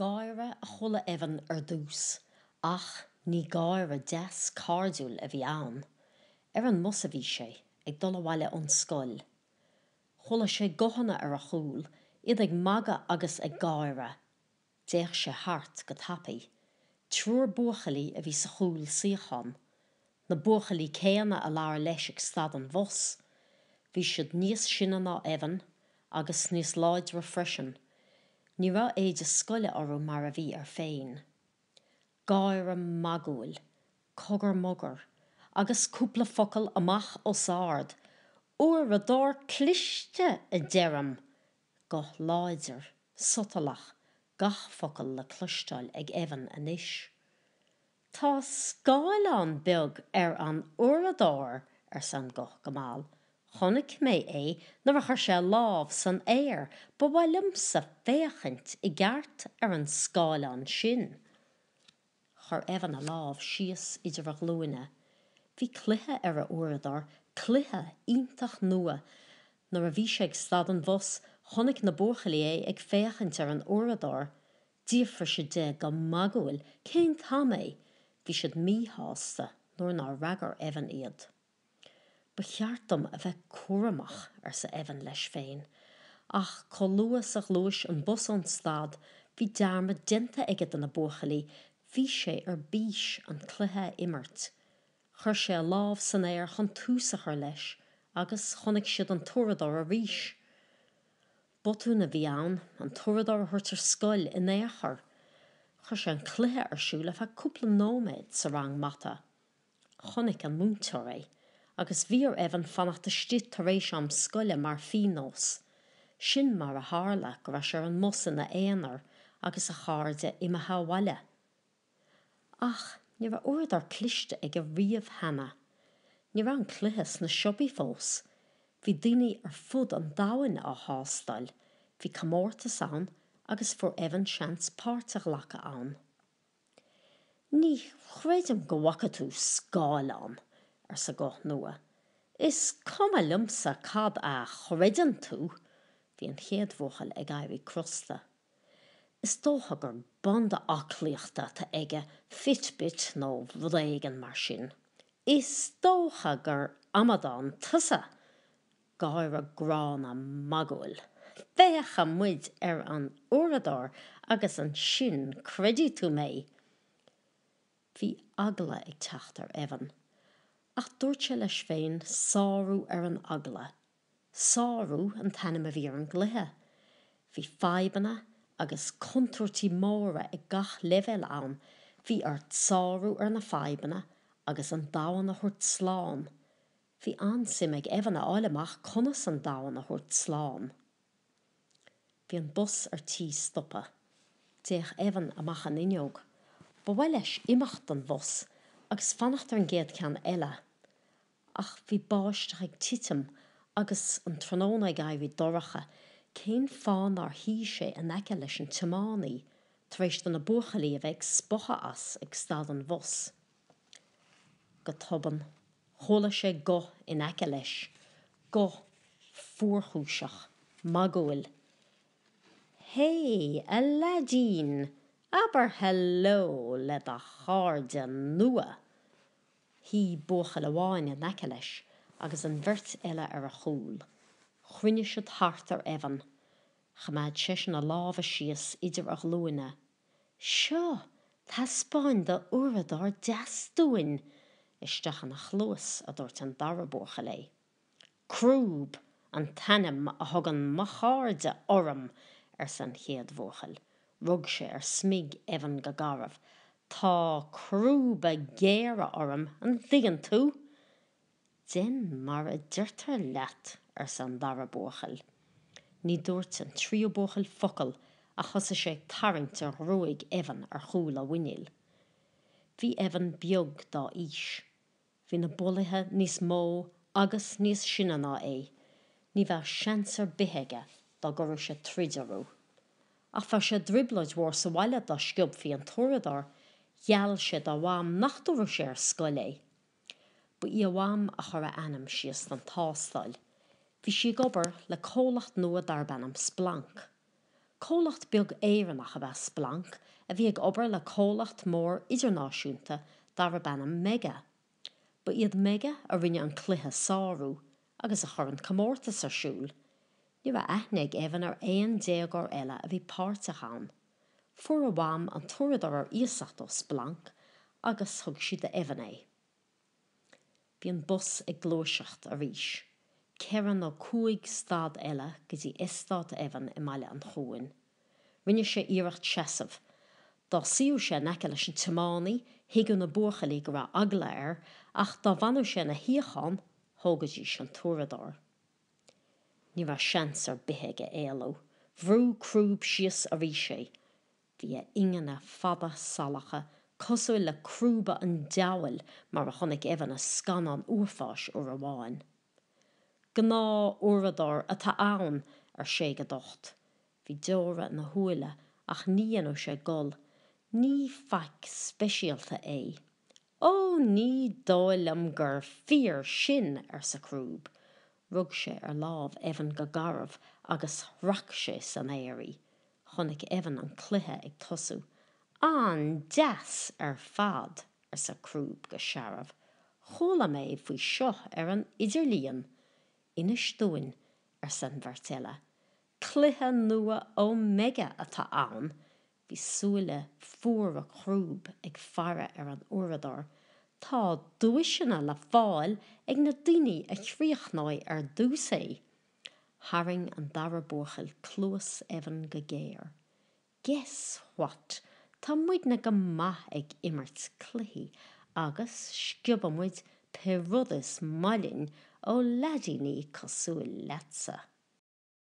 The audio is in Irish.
Gáire a chuala Evan ar dtús, ach ní gáire deas cairdiúil a bhí ann. Ar an mbus a bhí sé, ag dul abhaile ón scoil. Chuala sé guthanna ar a chúl, iad ag magadh agus ag gáire. D'fhéach sé thart go tapaidh. Triúr buachaillí a bhí sa chúlsuíochán. Na buachaillí céanna a labhair leis ag stad an bhus, bhí siad níos sine ná Evan agus níos láidre freisin. Ní raibh éide scoile orthu mar a bhí air féin. Gáire magúil. Cogar mogar. Agus cúpla focal amach os ard. Uaireadóir cliste, a deirim! Guth láidir, sotalach, gach focal le cloisteáil ag Evan anois. 'Tá scáileán beag ar an uaireadóir, arsa an guth go mall. Chonaic mé é nuair a chuir sé a lámh san aer. Ba mhaith liomsa féachaint i gceart ar an scáileán sin. Chuir Evan a lámh síos idir a ghlúine. Bhí cluiche ar a uaireadóir, cluiche iontach nua. Nuair a bhí sé ag stad an bhus, chonaic na buachaillí é ag féachaint ar an uaireadóir. D'fhiafraigh siad de go magúil cén t-am é, bhí siad míshásta nuair nár fhreagair Evan iad. Ba cheart dom a bheith cúramach, arsa Evan leis féin, ach chomh luath is a ghluais an bus ón stad bhí dearmad déanta aige de na buachaillí, bhí sé ar bís an cluiche a imirt. Chuir sé a lámh san aer chun tús a chur leis agus chonaic siad an t-uaireadóir arís. Botún a bhí ann an t-uaireadóir a thabhairt ar scoil in aon chor. Chuir sé an cluiche ar siúl ar feadh cúpla nóiméad sa rang mata. Chonaic an múinteoir é agus bhí ar Evan fanacht istigh tar éis am scoile mar phíonós. Sin mar a tharla go raibh sé ar an mbus ina aonar agus a chairde imithe abhaile. Ach ní raibh uaireadóir cliste aige riamh cheana. Ní raibh an cluiche sna siopaí fós. Bhí daoine ar fud an domhain á thástáil. Bhí comórtas ann agus fuair Evan seans páirt a ghlacadh ann. 'Ní chreidim go bhfaca tú scáileán! arsa guth nua. 'Is cuma liomsa cad a chreideann tú! Bhí an chéad bhuachaill ag éirí crosta. Is dócha gur banda aclaíochta atá aige, fitbit nó rud éigin mar sin. Is dócha gur amadán tusa! gáire gránna magúil. Féachfaimid ar an uaireadóir agus ansin creidfidh tú mé! bhí eagla ag teacht ar Evan. Ach dúirt sé leis féin sárú ar an eagla 'Sárú' an t-ainm a bhí ar an gcluiche. Bhí fadhbanna agus contúirtí móra i ngach leibhéal ann, bhí ort sárú ar na fadhbanna agus an domhan a thabhairt slán. Bhí an-suim ag Evan a fháil amach conas an domhan a thabhairt slán. Bhí an bus ar tí stopadh. D'fhéach Evan amach an fhuinneog. Ba mhaith leis imeacht den bhus agus fanacht ar an gcéad cheann eile. Ach bhí báisteach ag titim agus an tráthnóna ag éirí dorcha, cén fáth nár shuigh sé in aice leis an tiománaí tar éis do na buachaillí a bheith ag spochadh as ag stad an bhus? Go tobann, chuala sé guth in aice leis, guth fuarchúiseach, magúil. Hé, a leaidín, abair hello le do chairde nua! Shuigh buachaill amháin in aice leis agus an bheirt eile ar a chúl. Chruinnigh siad thart ar Evan. Choimeád seisean a lámha síos idir a ghlúine. 'Seo! Taispeáin do uaireadóir deas dúinn! Isteach ina chluas, a dúirt an dara buachaill é. Crúb an t-ainm a thugann mo chairde orm, arsa an chéad bhuachaill. Rug sé ar smig Evan go garbh. Tá crúba géara orm, an dtuigeann tú? Déan mar a deirtear leat, arsa an dara buachaill. Ní dúirt an tríú buachaill focal ach thosaigh sé ag tarraingt ar ghruaig Evan ar chúl a mhuiníl. Bhí Evan beag dá aois. Bhí na bulaithe níos mó agus níos sine ná é, ní bheadh seans ar bith aige dá gcuirfeadh sé troid orthu. Ach bheadh sé i dtrioblóid mhór sa bhaile dá sciobfaí an t-uaireadóir, gheall sé dá mham nach dtabharfadh sé ar scoil é. Ba í a mham a chuir a ainm síos don tástáil. Bhí sí ag obair le comhlacht nua darb ainm Splanc. Comhlacht beag Éireannach ab ea Splanc a bhí ag obair le comhlacht mór idirnáisiúnta darb ainm Mega. Ba iad Mega a rinne an cluiche Sárú agus a chuir an comórtas ar siúl. Ní raibh aithne ag Evan ar aon déagóir eile a bhí páirteach ann. Fuair a mham an t-uaireadóir ar iasacht ó Splanc agus thug sí d'Evan é. Bhí an bus ag gluaiseacht arís. Ceithre nó cúig stad eile go dtí eastát Evan i mBaile an Chuain. Rinne sé iarracht seasamh. Dá suíodh sé in aice leis an tiománaí, thuigeadh na buachaillí go raibh eagla air, ach dá bhfanadh sé ina shuíochán, thógaidís an t-uaireadóir. Ní raibh seans ar bith aige éalú. Bhrúigh Crúb síos arís é. Bhí a ingne fada salacha, cosúil le crúba an diabhail mar a chonaic Evan i scannán uafáis uair amháin. Gnáth-uaireadóir atá ann, ar sé go docht. Bhí deora ina shúile ach ní dhéanadh sé gol. Ní faic speisialta é. Ó, ní dóigh liom gur fíor sin, arsa Crúb. Rug sé ar lámh Evan go garbh agus shrac sé san aer í. Chonaic Evan an cluiche ag tosú. An-deas ar fad! arsa Crúb go searbh. Chuala mé faoi seo ar an idirlíon! Inis dúinn, arsa an bheirt eile. Cluiche nua Omega atá ann! Bhí súile fuara Chrúb ag faire ar an uaireadóir, tá duaiseanna le fáil ag na daoine a chríochnóidh ar dtús é. Tharraing an dara buachaill cluas Evan go géar. Guess what, tá muidne go maith ag imirt cluichí agus sciobann muid pé rud is maith linn ó leaidíní cosúil leatsa.